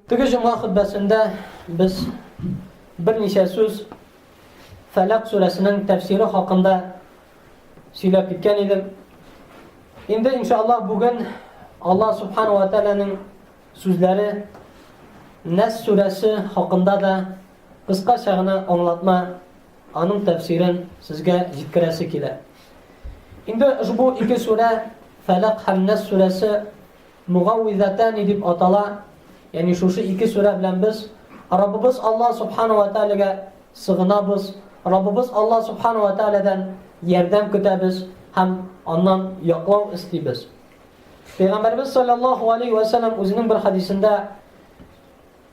Теге җомга хөтбәсендә без берничә сүз Фәләк сүрәсенең тәфсире хакында сөйләп киткән идек. Инде иншаллаһ бүген Аллаһ субхану ва тааляның сүзләре Нәс сүрәсе хакында да кыскача гына аңлатма, аның тәфсирен сезгә җиткерәсе килә. Инде ошбу ике сүрә, Фәләк һәм Нәс сүрәсе Мугауизатәни дип атала, ягъни шушы ике сүрә белән без Раббыбыз Аллаһ Субхана вә Тәгаләгә сыгынабыз, Раббыбыз Аллаһ Субхана вә Тәгаләдән ярдәм көтәбез һәм Аннан яклау эстибез. Пәйгамбәребез салләллаһу галәйһи вә сәлләм үзенең бер хәдисендә,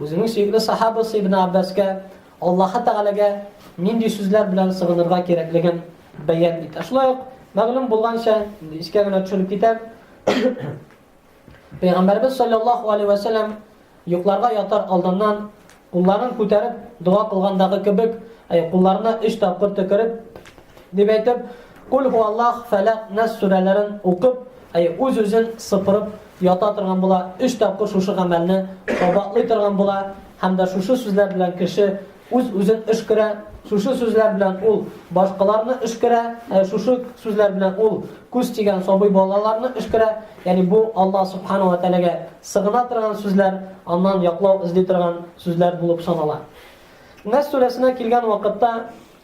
Үзеңнең сөекле сахабасы Ибн Аббаска, Аллаһы Тәгаләгә нинди сүзләр белән сыгынырга кирәклеген бәян ит. Шулай ук мәгълүм булганча, искә генә төшереп китәм. Пәйгамбәрбез саллаллаһу алейһи ва саллям йокларга ятар алдыннан кулларын күтәреп дога кылгандагы кебек, кулларына 3 тапкыр төкереп дип әйтеп, Куль һу Аллах, Фәләк, Нәс сүрәләрен укып, әй, үз-үзен сыпырып ята торган була, өч тапкыр шушы гамәлне кабатлый торган була һәм дә шушы сүзләр белән кеше үз-үзен өшкерә, шушы сүзләр белән ул башкаларны өшкерә, ә шушы сүзләр белән ул күз тигән сабый балаларны өшкерә. Ягъни бу Аллаһ Субхана ва Тәгаләгә сыгына торган сүзләр, аннан яклау эзли торган сүзләр булып санала. Нәс сүрәсенә килгән вакытта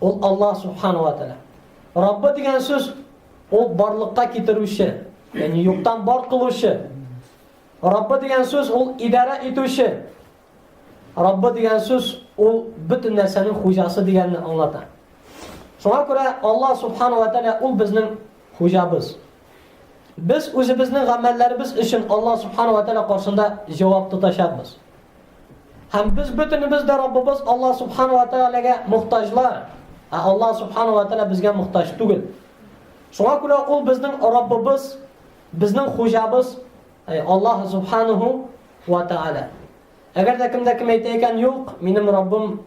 Ул Аллаһ Субхану ва Тәгалә. Раббы дигән сүз ул барлыкка китерүче, ягъни юктан бар кылучы. Раббы дигән сүз ул идарә итүче. Раббы дигән сүз ул бөтен нәрсәнең хуҗасы дигәнне аңлата. Шуңа күрә Аллаһ Субхану ва Тәгалә ул безнең хуҗабыз. Без үзебезнең гамәлләребез өчен Аллаһ Субхану ва Тәгалә каршында җавап тотачакбыз. Һәм без бөтенебез дә Раббыбыз Аллаһ Субхану ва Тәгаләгә мохтаҗлар. Ә Аллаһ Субхану ва Тәгалә безгә мохтаҗ түгел. Шуңа күрә ул безнең Раббыбыз, безнең хуҗабыз, әй Аллаһ Субхану ва Тәгалә. Әгәр дә кемдә кем әйтә икән, юк, минем Раббым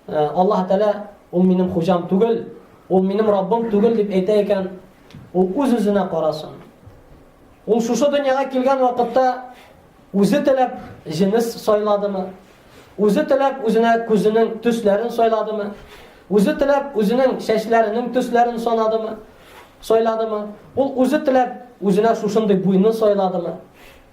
э, Аллаһ Тәгалә, ул минем хуҗам түгел, ул минем Раббым түгел дип әйтә икән, ул үз-үзенә карасын. Ул шушы дөньяга килгән вакытта Үзе теләп җенес сайладымы? Үзе теләп үзенә күзенең төсләрен сайладымы? Үзе теләп үзенең чәчләренең төсләрен санадымы? Сайладымы? Ул үзе теләп үзенә шушындый буйны сайладымы?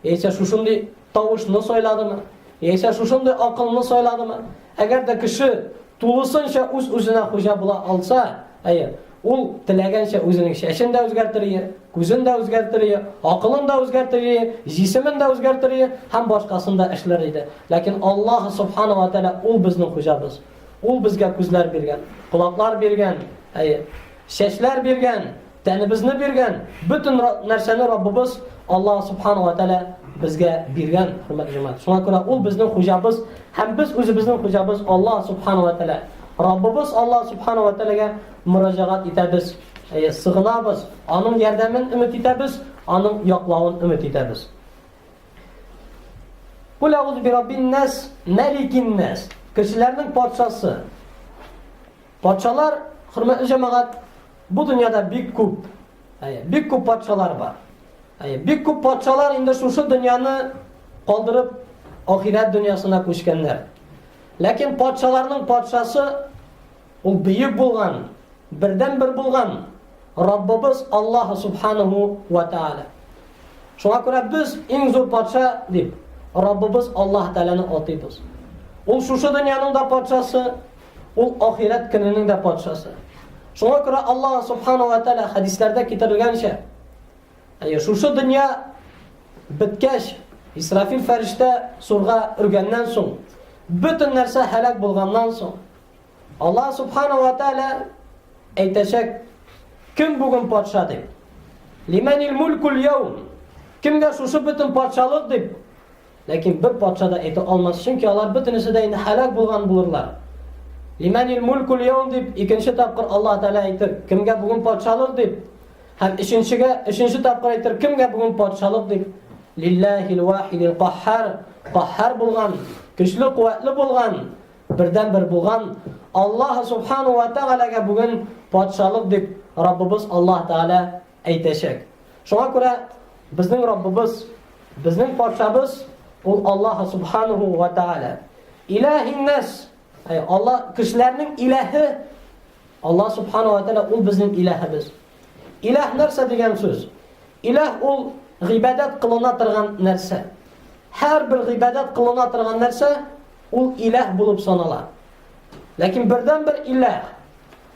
Яисә шушындый тавышны сайладымы? Яисә шушындый акылны сайладымы? Әгәр дә кеше тулысынча үз-үзенә хуҗа була алса, әйе, Ул теләгәнчә үзенең чәчен дә үзгәртер ие, күзен дә үзгәртер ие, акылын да үзгәртер ие, җисемен дә үзгәртер ие һәм башкасын да эшләр иде. Ләкин Аллаһ Субхана ва Тәгалә ул безнең хуҗабыз. Ул безгә күзләр биргән, колаклар биргән, әйе, чәчләр биргән, тәнебезне биргән, бөтен нәрсәне Раббыбыз Аллаһ Субхана ва Тәгалә безгә биргән, хөрмәтле җәмәгать. Шуңа күрә ул безнең хуҗабыз һәм без үзебезнең хуҗабыз Аллаһ Субхана ва Тәгалә. Раббыбыз Аллаһ Субхана ва Тәгаләгә мөрәҗәгать итәбез, сыгынабыз, аның ярдәмен өмет итәбез, аның яклавын өмет итәбез. Кул әгуз би раббин нас, мәликин нас. Кешеләрнең патшасы. Патшалар, хөрмәтле җәмәгать, бу дөньяда бик күп. Әйе, бик күп патшалар бар. Әйе, бик күп патшалар инде шушы дөньяны калдырып, ахирәт дөньясына күчкәннәр. Ләкин патшаларның патшасы, ул бөек булган, бердәнбер булган Раббыбыз Аллаһ Субханәһү вә Тәгалә. Шуңа күрә без иң зур патша дип Раббыбыз Аллаһ Тәгаләне атыйбыз. Ул шушы дөньяның да патшасы, ул ахирәт көненең дә патшасы. Шуңа күрә Аллаһ Субханәһү вә Тәгалә хәдисләрдә китерелгәнчә, Әйе, шушы дөнья беткәч, Исрафил фәрештә сурга өргәннән соң, бөтен нәрсә һәлак булганнан соң, Аллаһ субхана ва тәгалә әйтәчәк, кем бүген патша дип? Лимәнил мулкул яум? Кемгә шушы бөтен патшалык дип Ләкин бер патша да әйтә алмас, чөнки алар бөтенесе дә инде һәлак булган булырлар. Лиманил мулькул яум дип икенче тапкыр Аллаһ Тәгалә әйтер, кемгә бүген патшалык дип, һәм өченчегә, өченче тапкыр әйтер, кемгә бүген патшалык дип. Лиллахил вахидил каххар, каххар булган, көчле, куәтле булган, бердән бер булган Аллаһ субхану ва тәгаләгә бүген патшалык дип Раббыбыз Аллаһ Тәгалә Әйтәчәк. Шуңа күрә безнең Раббыбыз, безнең патшабыз ул Аллаһ субханаху ва тааля. Илаһиннас, әй Алла кешеләрнең илаһы Аллаһ субханаху ва тааля ул безнең илаһыбыз. Илаһ нәрсә дигән сүз? Илаһ ул гыйбадәт кылына торган нәрсә. Һәр бер гыйбадәт кылына торган нәрсә ул илаһ булып санала. Ләкин бердән бер илаһ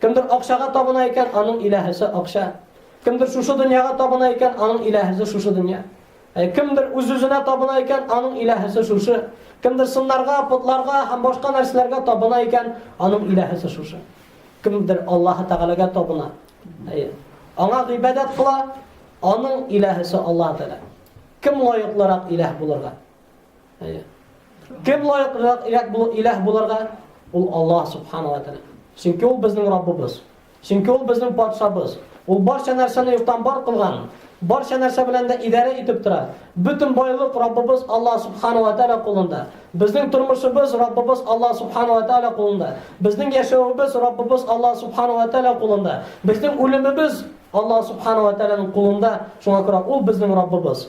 Кемдер акчага табына икән, аның иләһесе акча. Кемдер шушы дөньяга табына икән, аның иләһесе шушы дөнья. Ә кемдер үз-үзенә табына икән, аның иләһесе шушы. Кемдер сыннарга, потларга һәм башка нәрсәләргә табына икән, аның иләһесе шушы. Кемдер Аллаһ Тәгаләгә табына. Әйе. Аңа гыйбадәт кыла, аның иләһесе Аллаһ Тәгалә. Кем лаеклырак иләһ булырга? Әйе. Кем лаеклырак иләк бул иләһ буларга? Ул Аллаһ субхана ва тәгалә. Чөнки ул безнең Раббыбыз. Чөнки ул безнең патшабыз. Ул барча нәрсәне юктан бар кылган. Барча нәрсә белән дә идарә итеп тора. Бөтен байлык Раббыбыз Аллаһ субхана ва тәгалә кулында. Безнең тормышыбыз Раббыбыз Аллаһ субхана ва тәгалә кулында. Безнең яшәвебез Раббыбыз Аллаһ субхана ва тәгалә кулында. Безнең үлемебез Аллаһ субхана ва тәгаләнең кулында. Шуңа күрә ул безнең Раббыбыз.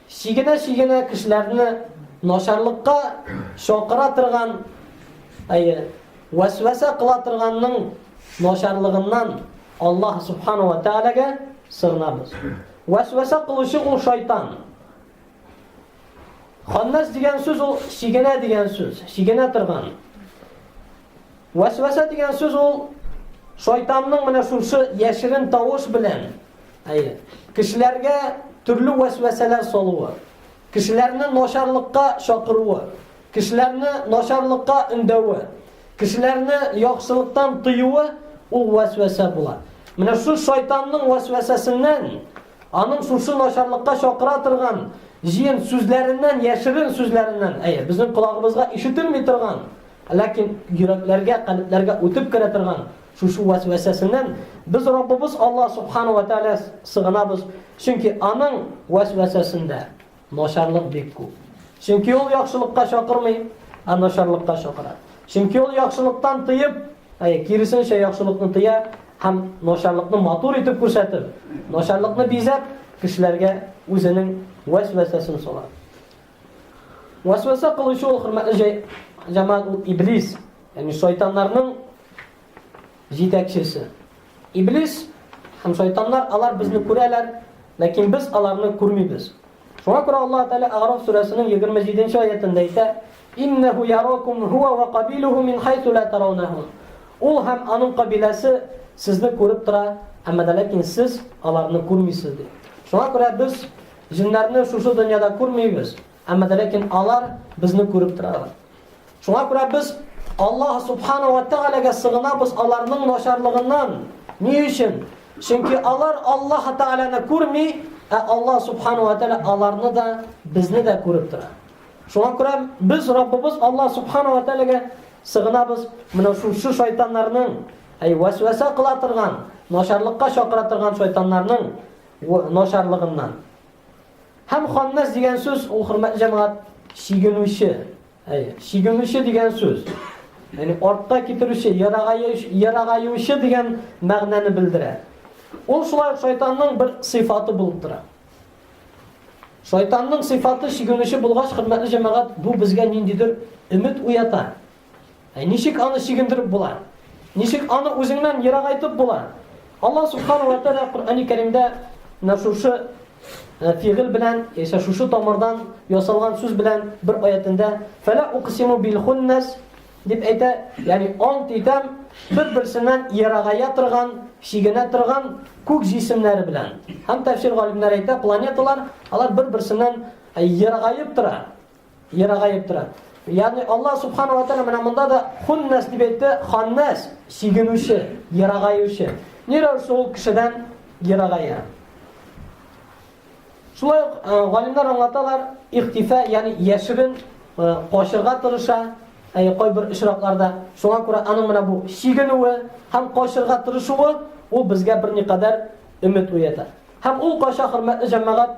Чигенә-чигенә кешеләрне начарлыкка чакыра торган, әйе, вәсвәсә кыла торганның начарлыгыннан Аллаһ Субхана ва Тәгаләгә сыгынабыз. Вәсвәсә кылучы ул шайтан. Ханнас дигән сүз ул чигенә дигән сүз, чигенә торган. Вәсвәсә дигән сүз ул шайтанның менә шушы яшерен тавыш белән, әйе, кешеләргә төрле вәсвәсәләр салуы, кешеләрне начарлыкка чакыруы, кешеләрне начарлыкка өндәве, кешеләрне яхшылыктан тыюы ул вәсвәсә була. Менә шу шайтанның вәсвәсәсеннән, аның шушы начарлыкка чакыра торган җыен сүзләреннән, яшерен сүзләреннән, әйе, безнең колагыбызга ишетелми торган Ләкин йөрәкләргә, калебләргә үтеп керә торган шушы вәсвәсәсеннән без Раббыбыз Аллаһ Субхана ва Тәгалә сыгынабыз, чөнки аның вәсвәсәсендә начарлык бик күп. Чөнки ул яхшылыкка чакырмый, ә начарлыкка чакыра. Чөнки ул яхшылыктан тыеп, ә киресенчә яхшылыкны тыя һәм начарлыкны матур итеп күрсәтеп, начарлыкны бизәп, кешеләргә үзенең вәсвәсәсен сала. Васваса кылучы ул хөрмәтле җәй җамаат ул иблис, ягъни шайтаннарның җитәкчесе. Иблис һәм шайтаннар алар безне күрәләр, ләкин без аларны күрмибез. Шуңа күрә Аллаһ Тәгалә Араф сүрәсенең 27 нче аятында әйтә: "Иннаху яракум хуа ва кабилуху мин хайсу ла тараунаху". Ул һәм аның кабиләсе сезне күреп тора, әмма ләкин сез аларны күрмисез ди. Шуңа күрә без Җеннәрне шушы дөньяда күрмибез, әмма дә ләкин алар безне күреп торалар. Шуңа күрә без Аллаһ субхана ва тәгаләгә сыгынабыз аларның начарлыгыннан. Ни өчен? Чөнки алар Аллаһ тәгаләне күрми, ә Аллаһ субхана ва тәгалә аларны да, безне дә күреп тора. Шуңа күрә без Раббыбыз Аллаһ субхана ва тәгаләгә сыгынабыз. Менә шушы шайтаннарның, әй васваса кыла торган, начарлыкка чакыра торган шайтаннарның Начарлыгыннан. Һәм ханнас дигән сүз ул, хөрмәтле җәмәгать, чигенүче. Әйе, чигенүче дигән сүз. Яни артта китерүче, ерагаючы дигән мәгънәне белдерә. Ул шулай шайтанның бер сыйфаты булып тора. Шайтанның сыйфаты чигенүче булгач, хөрмәтле җәмәгать, бу безгә ниндидер өмет уята. Ә ничек аны чигендереп була? Ничек аны үзеңнән ерагайтып була? Аллаһ субхана ва тәгалә Коръәни Кәримдә менә шушы э, фигыль белән, яисә шушы тамырдан ясалган сүз белән бер аятендә фәлә уқсиму бил хуннас дип әйтә, ягъни ант итәм бер-берсеннән ерагая торган, чигенә торган күк җисемнәре белән. Һәм тәфсир галимнәре әйтә, планеталар алар бер-берсеннән э, ерагаеп тора. Ерагаеп тора. Ягъни Аллаһ субхана ва тааля менә монда да хуннас дип әйтте, ханнас, сигенүче, ерагаючы. Ни рәвешле ул кешедән ерагая? Шулай ук э, галимнәр аңлаталар, ихтифа, ягъни яшерен э, качырга тырыша, әй кайбер очракларда. Шуңа күрә аның менә бу сигенүе һәм качырга тырышуы ул безгә берникадәр өмет уята. Һәм ул кача хөрмәтле җәмәгать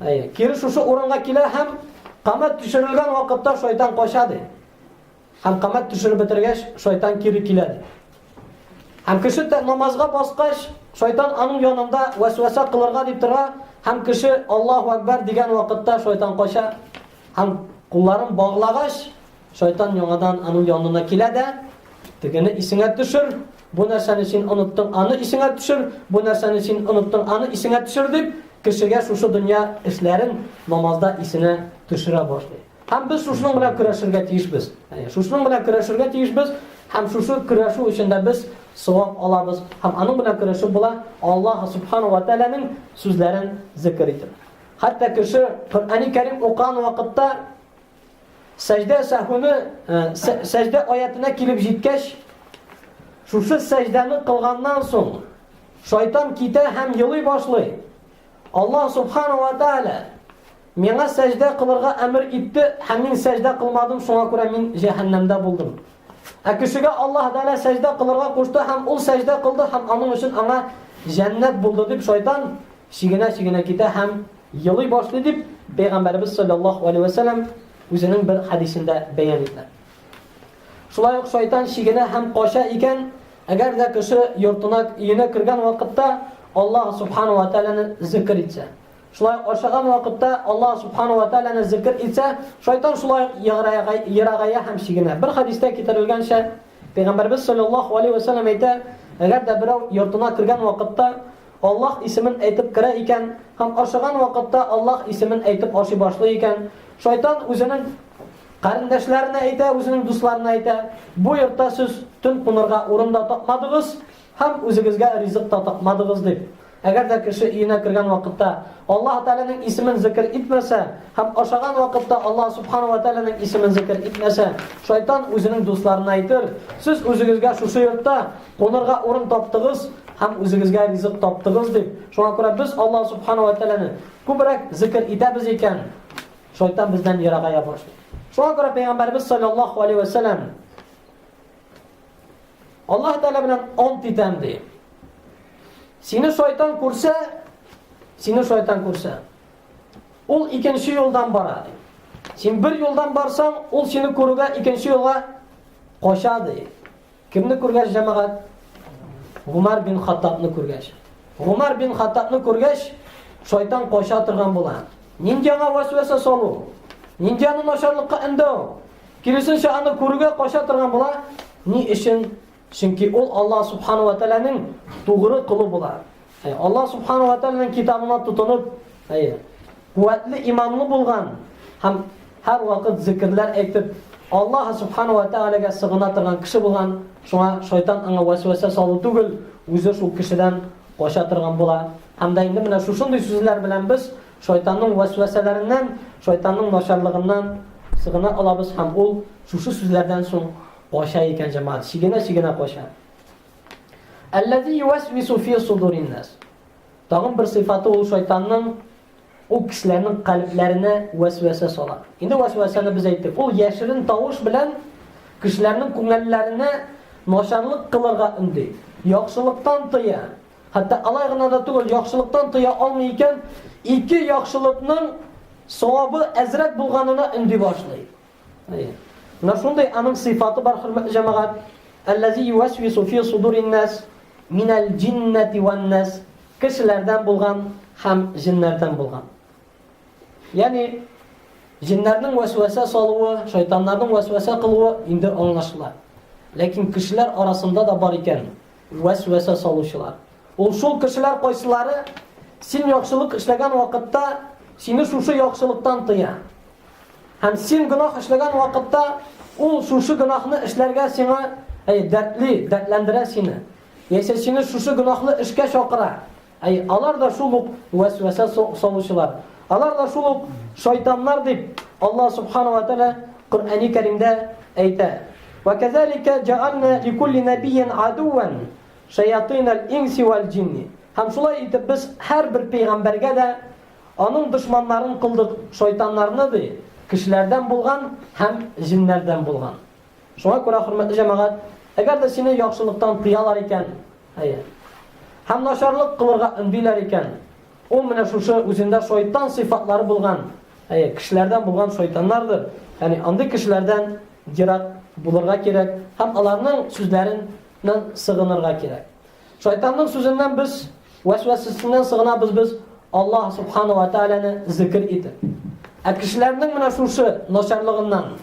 Әйе, кире шушы урынга килә һәм камәт төшерелгән вакытта шайтан кача ди. Һәм камәт төшереп бетергәч, шайтан кире килә ди. Һәм кеше тә намазга баскач, шайтан аның янында вәсвәсә кылырга дип тора, һәм кеше Аллаһу Акбар дигән вакытта шайтан кача. Һәм кулларын баглагач, шайтан яңадан аның янына килә дә, тегене исеңә төшер, Бу нәрсәне син оныттың, аны исеңә төшер, бу нәрсәне син оныттың, аны исеңә төшер дип, кешегә шушы дөнья эшләрен намазда исенә төшерә башлый. Һәм без шушының белән көрәшергә тиешбез. Әйе, шушының белән көрәшергә тиешбез. Һәм шушы көрәшү өчен дә без савап алабыз. Һәм аның белән көрәшү була Аллаһ субхану ва тааляның сүзләрен зикр итеп. Хәтта кеше Коръәни Кәрим укыган вакытта Сәҗдә сәһүне, сәҗдә аятенә килеп җиткәч, шушы сәҗдәне кылганнан соң, шайтан китә һәм елый башлый. Аллаһ субхана ва тааля миңа сәҗдә кылырга әмер итте һәм мин сәҗдә кылмадым, шуңа күрә мин җәһәннәмдә булдым. Ә кешегә Аллаһ Тәгалә сәҗдә кылырга кушты һәм ул сәҗдә кылды һәм аның өчен аңа җәннәт булды дип шайтан шигенә-шигенә китә һәм Елый башлый дип, Пәйгамбәребез саллаллаһу алейһи ва сәлләм үзенең бер хәдисендә бәян итә. Шулай ук шайтан чигенә һәм кача икән, әгәр дә кеше йортына, өенә кергән вакытта Аллаһ субхану ва тәгаләне зикр итсә. Шулай ашаган вакытта Аллаһ субхану ва тәгаләне зикр итсә, шайтан шулай ерагая һәм чигенә. Бер хәдистә китерелгәнчә, Пәйгамбәрбез саллаллаһу алейһи ва сәлләм әйтә, әгәр дә берәү йортына кергән вакытта Аллаһ исемен әйтеп керә икән һәм ашаган вакытта Аллаһ исемен әйтеп ашый башлый икән, шайтан үзенең карендәшләренә әйтә, үзенең дусларына әйтә, бу йортта сез төн кунырга урын да тапмадыгыз һәм үзегезгә ризык та тапмадыгыз дип. Әгәр дә кеше өенә кергән вакытта Аллаһ Тәгаләнең исемен зикер итмәсә һәм ашаган вакытта Аллаһ Субхана ва Тәгаләнең исемен зикер итмәсә, шайтан үзенең дусларына әйтер, сез үзегезгә шушы йортта Кунырга урын таптыгыз һәм үзегезгә ризык таптыгыз дип. Шуңа күрә без Аллаһ субхану ва тәгаләне күбрәк зикр итәбез икән, шайтан бездән ерага ябырышмый. Шуңа күрә пәйгамбәрбез саллаллаһу алейһи ва сәлләм Аллаһ тәгалә белән ант итәм ди. Сине шайтан күрсә, сине шайтан күрсә, ул икенче юлдан бара ди. Син бер юлдан барсаң, ул сине күрүгә икенче юлга кача ди. Кемне күргәч, җәмәгать? Гумар бин Хаттабны күргәч. Гумар бин Хаттабны күргәч, шайтан кача торган була. Нинди аңа вәсвәсә салу? Нинди аны начарлыкка өндәү? Киресенчә, аны күрүгә кача торган була. Ни өчен? Чөнки ул Аллаһ субхану ва тәгаләнең тугры колы була. Аллаһ Субхану ва Тәгаләнең китабына тотынып, әйе, куәтле иманлы булган һәм һәр вакыт зикрләр әйтеп, Аллаһ Субхану ва Тәгаләгә сыгына торган кеше булган, шуңа шайтан аңа вәсвәсә салу түгел, үзе шул кешедән кача торган була. Һәм дә инде менә шушындый сүзләр белән без шайтанның вәсвәсәләреннән, шайтанның начарлыгыннан сыгына алабыз һәм ул шушы сүзләрдән соң кача икән җәмәгать, чигенә-чигенә кача. Әлләзи юәсвису фи судурин нас. Тагын бер сыйфаты ул шайтанның ул кешеләрнең калебләренә вәсвәсә сала. Инде вәсвәсәне без әйттек. Ул яшерен тавыш белән кешеләрнең күңелләренә начарлык кылырга өнди. Яхшылыктан тыя. Хәтта алай гына да түгел, яхшылыктан тыя алмый икән, ике яхшылыкның савабы әзрәк булганына өнди башлый. Менә шундый аның сыйфаты бар, хөрмәтле җәмәгать. Әлләзи юәсвису фи судурин нас минәл джиннәти ван нас. Кешеләрдән булган һәм җиннәрдән булган. Ягъни җиннәрнең вәсвәсә салуы, шайтаннарның вәсвәсә кылуы инде аңлашыла. Ләкин кешеләр арасында да бар икән вәсвәсә салучылар. Ул шул кешеләр кайсылары син яхшылык эшләгән вакытта сине шушы яхшылыктан тыя. Һәм син гөнаһ эшләгән вакытта ул шушы гөнаһны эшләргә сиңа әй дәртли, дәртләндерә сине. Яисә сине шушы гөнаһлы эшкә чакыра. Әй алар да шул ук вәсвәсә салучылар. Алар да шул ук шайтаннар дип Аллаһ субхана ва тәгалә Коръәни Кәримдә әйтә. Ва казалика джаална ликулли набийин адуан шаятин ал-инси вал-джинни. Һәм шулай итеп без һәрбер пәйгамбәргә дә Аның дошманнарын кылдык шайтаннарны, ди, кешеләрдән булган һәм җеннәрдән булган. Шуңа күрә, хөрмәтле җәмәгать, әгәр дә сине яхшылыктан тыялар икән, әйе, һәм начарлык кылырга өндиләр икән, ул менә шушы үзендә шайтан сыйфатлары булган, әйе, кешеләрдән булган шайтаннардыр. Ягъни андый кешеләрдән ерак булырга кирәк һәм аларның сүзләреннән сыгынырга кирәк. Шайтанның сүзеннән без, вәсвәсәсеннән сыгынабыз без Аллаһ Субхана ва Тәгаләне зикер итеп. Ә кешеләрнең менә шушы начарлыгыннан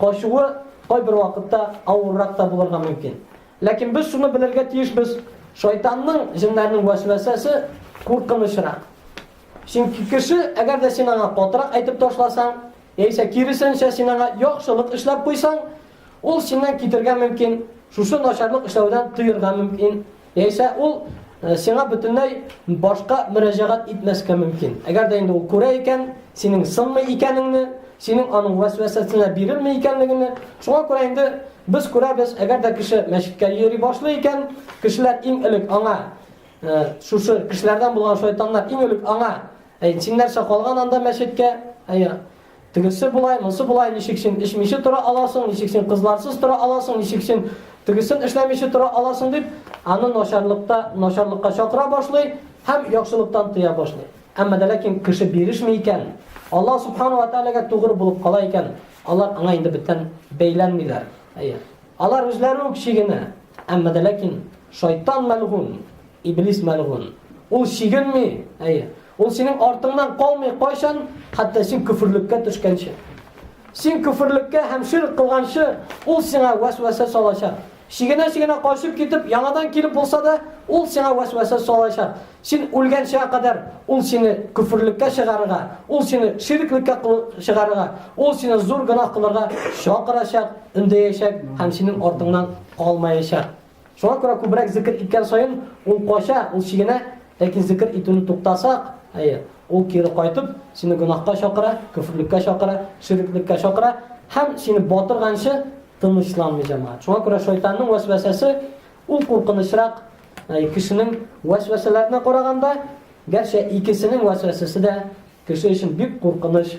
качуы кайбер вакытта авыррак та булырга мөмкин. Ләкин без шуны белергә тиешбез, шайтанның, җеннәрнең вәсвәсәсе куркынычрак. Чөнки кеше, әгәр дә син аңа катырак әйтеп ташласаң, яисә киресенчә син аңа яхшылык эшләп куйсаң, Ул синнән китергә мөмкин, шушы начарлык эшләүдән тыерга мөмкин, яисә ул сиңа бөтенләй башка мөрәҗәгать итмәскә мөмкин. Әгәр дә инде ул күрә икән, синең сынмый икәнеңне, синең аның вәсвәсәсенә бирелми икәнлегеңне, шуңа күрә инде без күрәбез, әгәр дә кеше мәчеткә йөри башлый икән, кешеләр иң элек аңа шушы кешеләрдән булган шайтаннар иң элек аңа син нәрсә калган анда мәчеткә? Әйе. Тегесе болай, монсы болай, ничек син эчмиче тора аласың, ничек син кызларсыз тора аласың, ничек син тегесен эшләмиче тора аласың, дип, аны начарлыкта, начарлыкка чакыра башлый һәм яхшылыктан тыя башлый. Әмма дә ләкин кеше бирешми икән, Аллаһ субхана ва тәгаләгә тугры булып кала икән, алар аңа инде бөтен бәйләнмиләр. Әйе. Алар үзләре үк чигенә. Әмма дә ләкин шайтан мәлгун, иблис мәлгун. Ул чигенми. Әйе. Ул синең артыңнан калмый кайчан, хәтта син көферлеккә төшкәнче. Син көферлеккә һәм ширк кылганчы, ул сиңа вәсвәсә салачак. Шигенә-шигенә качып китеп, яңадан килеп булса да, ул сиңа вәсвәсә салачак. Син үлгәнчә кадәр ул сине көферлеккә чыгарырга, ул сине ширклеккә чыгарырга, ул сине зур гына кылырга чакырачак, үндәячәк һәм синең артыңнан калмаячак. Шуңа күрә күбрәк зикер иткән саен ул кача, ул чигенә, ләкин зикер итүне туктасак, әйе, ул кире кайтып, сине гөнаһка чакыра, көферлеккә чакыра, ширеклеккә чакыра һәм сине батырганчы тынычланмый җәмәгать. Шуңа күрә шайтанның вәсвәсәсе ул куркынычрак кешенең вәсвәсәләренә караганда, гәрчә икесенең вәсвәсәсе дә кеше өчен бик куркыныч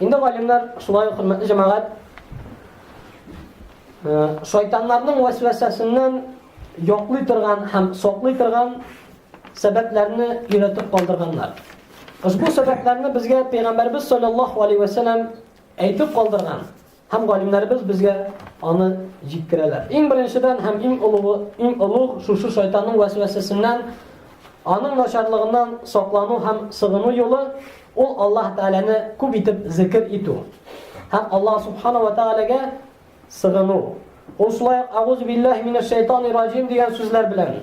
Инде галимнәр шулай хөрмәтле җәмәгать шайтаннарның вәсвәсәсеннән яклый торган һәм саклый торган сәбәпләрне өйрәтеп калдырганнар. Ошбу сәбәпләрне безгә Пәйгамбәрбез саллаллаһу алейһи ва сәлләм әйтеп калдырган. Һәм галимнәребез безгә аны җиткерәләр. Иң беренчедән һәм иң олугы, иң олуг шушы шайтанның вәсвәсәсеннән, аның начарлыгыннан саклану һәм сыгыну юлы ул Аллаһ Тәгаләне күп итеп зикр итү. Һәм Аллаһ Субхана ва Тәгаләгә сыгыну. Ул шулай ук Агуз билләһи минәш шайтанир раҗим дигән сүзләр белән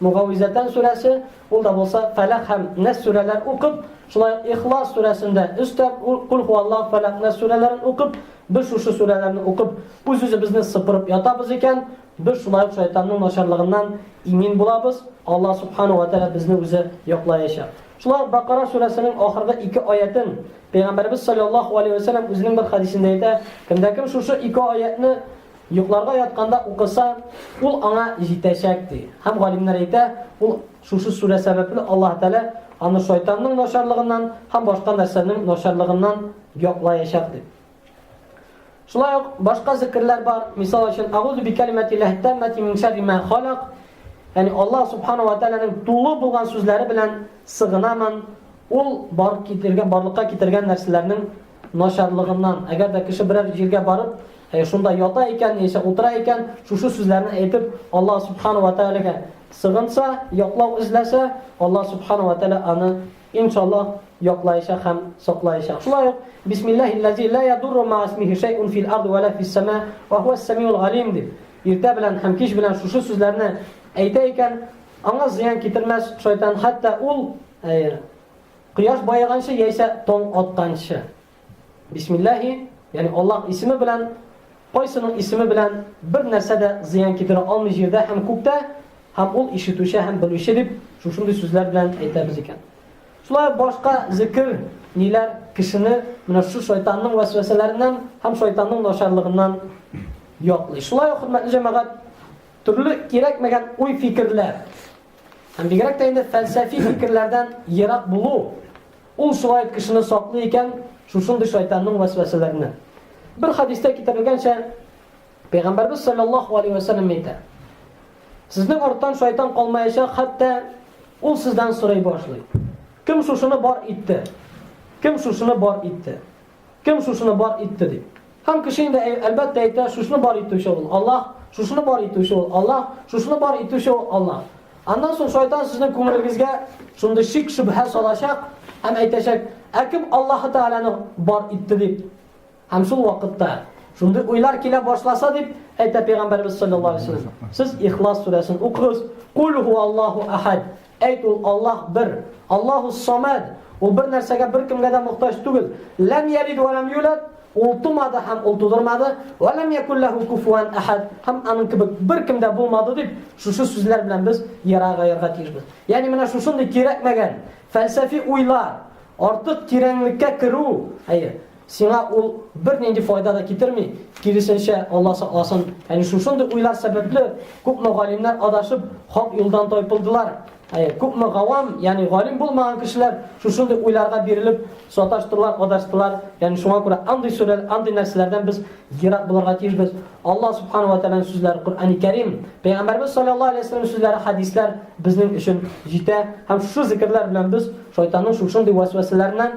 Могавизәтән сүрәсе, ул да булса Фәләх һәм Нәс сүрәләр укып, шулай ук Ихлас сүрәсен дә өстәп, Куль һуаллаһ, Фәләх, Нәс сүрәләрен укып, без шушы сүрәләрне укып, үз-үзебезне сыпырып ятабыз икән, без шулай ук шайтанның начарлыгыннан имин булабыз, Аллаһ Субханаһу ва Тәгалә безне үзе яклаячак. Шулай ук Бакара сүрәсенең ахыргы ике аятен Пәйгамбәребез салләллаһу галәйһи ва сәлләм үзенең бер хәдисендә әйтә, Кемдә-кем шушы ике аятьне Йокларга ятканда укыса, ул аңа җитәчәк, ди. Һәм галимнәр әйтә, ул шушы сүрә сәбәпле Аллаһ Тәгалә аны шайтанның начарлыгыннан һәм башка нәрсәнең начарлыгыннан яклаячак, дип. Шулай ук башка зикерләр бар. Мисал өчен, Агузу би калиматиллахи таммати мин шарри ма халак. Ягъни Аллаһ субхана ва тааляның тулы булган сүзләре белән сыгынамын. Ул бар китергән, барлыкка китергән нәрсәләрнең начарлыгыннан, әгәр дә кеше берәр җиргә барып, шунда ята икән, яисә утыра икән, шушы сүзләрне әйтеп, Аллаһ Субхана ва Тәгаләгә сыгынса, яклау эзләсә, Аллаһ Субхана ва Тәгалә аны, иншаллаһ, яклаячак һәм саклаячак. Шулай ук, Бисмиллахиллази ла ядурру ма исмихи шәйун фил арди ва ла фис сама ва хуас самиул галим дип, иртә белән һәм кич белән шушы сүзләрне әйтә икән, аңа зыян китермәс шайтан, хәтта ул Кояш баеганчы яисә тон атканчы. Бисмиллахи, ягъни Аллаһ исеме белән, кайсының исеме белән бер нәрсә дә зыян китерә алмый җирдә һәм күктә, һәм ул ишетүче һәм белүче дип шушындый сүзләр белән әйтәбез икән. Шулай башка зикр ниләр кешене менә шу шайтанның вәсвәсәләреннән һәм шайтанның начарлыгыннан яклый. Шулай ук хөрмәтле җәмәгать, төрле кирәкмәгән уй-фикерләр, Һәм бигрәк тә инде фәлсәфи фикерләрдән ерак булу, ул шулай итеп кешене саклый икән шушындый шайтанның вәсвәсәләреннән. Бер хадистә китерелгәнчә, Пәйгамбәрбез саллаллаху алейһи ва саллям әйтә: Сезнең арттан шайтан калмаячак, хәтта ул сездән сорый башлый. Кем шушыны бар итте? Кем шушыны бар итте? Кем шушыны бар итте ди. Һәм кеше инде әлбәттә әйтә, шушыны бар итүче ул Аллаһ, шушыны бар итүче ул Аллаһ, шушыны бар итүче ул Аллаһ. Аннан соң шайтан сезнең күңелегезгә шундый шик шөбһә салачак һәм әйтәчәк, ә кем Аллаһ Тәгаләне бар итте дип. Һәм шул вакытта шундый уйлар килә башласа дип әйтә пәйгамбәрбез саллаллаһу алейһи ва сәлләм. Сез Ихлас сүрәсен укыгыз. Кул ху Аллаһу ахад. Әйт, ул Аллаһ бер. Аллаһу-ссамәд. Ул бер нәрсәгә, беркемгә дә мохтаҗ түгел. Ләм ялид вә ләм юлад. Ул тумады һәм ул тудырмады. Вә ләм якул ләһу куфуан әхәд. Һәм аның кебек беркем дә булмады дип, шушы сүзләр белән без яра гаярга тиешбез. Ягъни менә шушындый кирәкмәгән фәлсәфи уйлар, артык тирәнлеккә керү, әйе, Сиңа ул бернинди файда да китерми, киресенчә, Алла сакласын. Әни шушындый уйлар сәбәпле күпме галимнәр адашып, хак юлдан тайпылдылар. Әйе, күпме гавам, ягъни галим булмаган кешеләр шушындый уйларга бирелеп, саташтылар, адаштылар. Ягъни шуңа күрә андый сүрәләр, андый нәрсәләрдән без ерак булырга тиешбез. Алла субханәһу ва тәгаләнең сүзләре Коръәни Кәрим, Пәйгамбәрбез саллаллаһу алейһи ва саллям сүзләре, хәдисләр безнең өчен җитә. Һәм шушы зикерләр белән без шайтанның шушындый вәсвәсәләреннән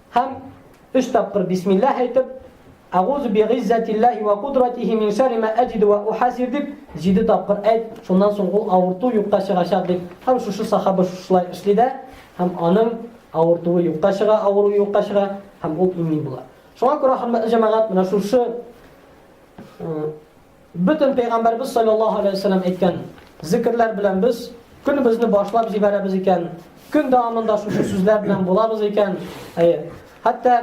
Һәм өч тапкыр бисмиллаһ әйтеп, Әгузу би гыйззәтиллаһи ва кудратихи мин шәрри ма әҗиду ва ухазир дип, җиде тапкыр әйт, шуннан соң ул авырту юкка чыгачак дип. Һәм шушы сахаба шушылай эшли дә, һәм аның авыртуы юкка чыга, авыруы юкка чыга, һәм ул имин була. Шуңа күрә, хөрмәтле җәмәгать, менә шушы Бөтен пәйгамбәрбез салләллаһу алейһи ва сәлләм әйткән зикерләр белән без көнебезне башлап җибәрәбез икән, көн дәвамында шушы сүзләр белән булабыз икән, әйе. Хәтта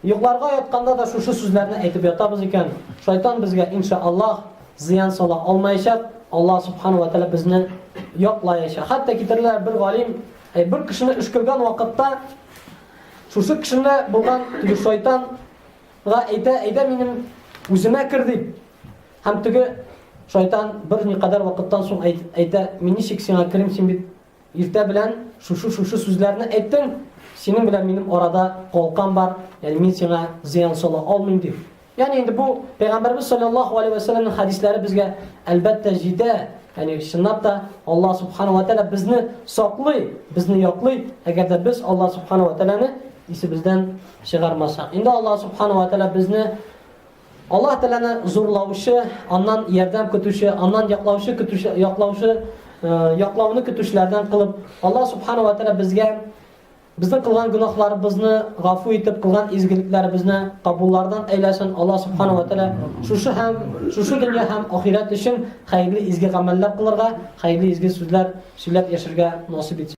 йокларга ятканда да шушы сүзләрне әйтеп ятабыз икән, шайтан безгә иншааллаһ зыян сала алмаячак. Аллаһ субхана ва тәгалә безне яклаячак. Хәтта китерелә бер галим, әй бер кешене өшкергән вакытта шушы кешене булган теге шайтан Га әйтә, әйдә минем үземә кер дип. Һәм теге шайтан бер никадәр вакыттан соң әйтә, мин ничек сиңа керим, син бит иртә белән шушы-шушы сүзләрне әйттең, синең белән минем арада калкан бар, ягъни мин сиңа зыян сала алмыйм дип. Ягъни инде бу Пәйгамбәрбез саллаллаһу алейһи ва сәлламның хадисләре безгә әлбәттә җитә. Ягъни чынлап та Аллаһ субханаһу ва тааля безне саклый, безне яклый, әгәр дә без Аллаһ субханаһу ва тааляны исебездән чыгармаса. Инде Аллаһ Субхана ва Тәала безне Аллаһ Тәаләне зурлаучы, аннан ярдәм көтүче, аннан яклаучы көтүче, яклаучы, э, яклауны көтүчеләрдән кылып, Аллаһ Субхана ва Тәала безгә безнең кылган гөнаһларыбызны гафу итеп, кылган изгелекләребезне кабуллардан әйләсен. Аллаһ Субхана ва Тәала шушы һәм шушы дөнья һәм ахирәт өчен хәерле изге гамәлләр кылырга, хәерле изге сүзләр сөйләп яшәргә насыйп итсен.